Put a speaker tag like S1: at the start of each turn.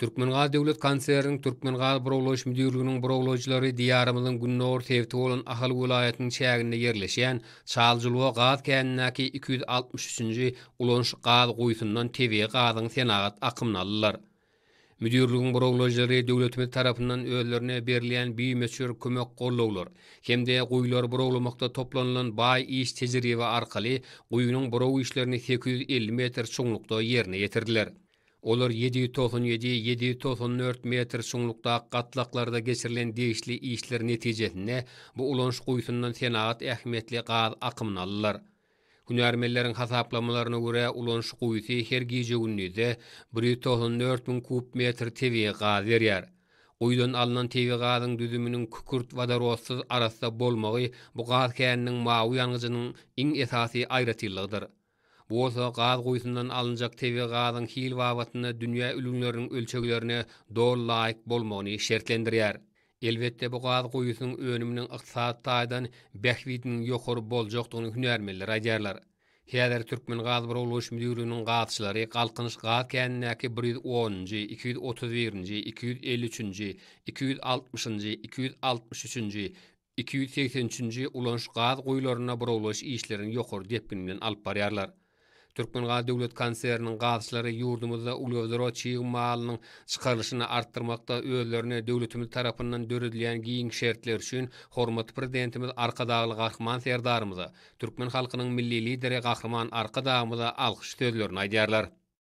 S1: Türkmengaz döwlet konserniniň Türkmengazburawlaýyş müdirliginiň burawlaýjylary Diýarymyzyň gündogar sebiti bolan Ahal welaýatynyň çäginde ýerleşýän Çaljyluga gaz känindäki iki ýüz altmyş üçünji ulanyş gaz guýusyndan tebigy gazyň senagat akymyny aldylar. Müdirligiň burawlaýjylary döwletimiz tarapyndan özlerine berilýän bimöçber kömek-gollawlar hem-de guýulary burawlamakda toplanylan baý iş tejribe arkaly guýynyň buraw işlerini sekiz ýüz elli metr çuňlukda ýerine ýetirdiler. Olar ýedi ýüz togsan ýedi, ýedi ýüz togsan dört metr çuňlukdaky gatlaklarda geçirilen degişli işler netijesinde bu ulanyş guýusyndan senagat ähmiýetli gaz akymyny aldylar. Hünärmenleriň hasaplamalaryna görä, ulanyş guýusy her gije-gündizde bir ýüz togsan dört müň kub metr tebigy gaz berýär. Guýudan alnan tebigy gazyň düzüminiň kükürt wodorodsyz arassa bolmagy bu gaz käniniň mawy ýangyjynyň iň esasy aýratynlygydyr. Bu bolsa gaz guýusyndan alynjak tebigy gazyň hil babatynda dünýä ülňüleriniň ölçeglerine doly laýyk bolmagyny şertlendirýär. Elbetde, bu gaz guýusynyň önüminiň ykdysady taýdan bähbidiniň ýokary boljakdygyny hünärmenler aýdýarlar. Häzir Türkmengazburawlaýyş müdirliginiň gazçylary Galkynyş gaz känindäki bir ýüz onunjy, iki ýüz otuz birinji, iki ýüz elli üçünji, iki ýüz altmyşynjy, iki ýüz altmyş üçünji, Iki ýüz segsen üçünji ulanyş gaz guýularyna burawlaýyş işlerini ýokary depgin bilen alyp barýarlar. Türkmengaz döwlet konserniniň gazçylary ýurdumyzda uglewodorod çig malynyň çykarylyşyny artdyrmakda özlerine döwletimiz tarapyndan döredilýän giň şertler üçin hormatly Prezidentimiz Arkadagly Gahryman Serdarymyza, türkmen halkynyň Milli Lideri Gahryman Arkadagymyza alkyş sözlerini aýdýarlar.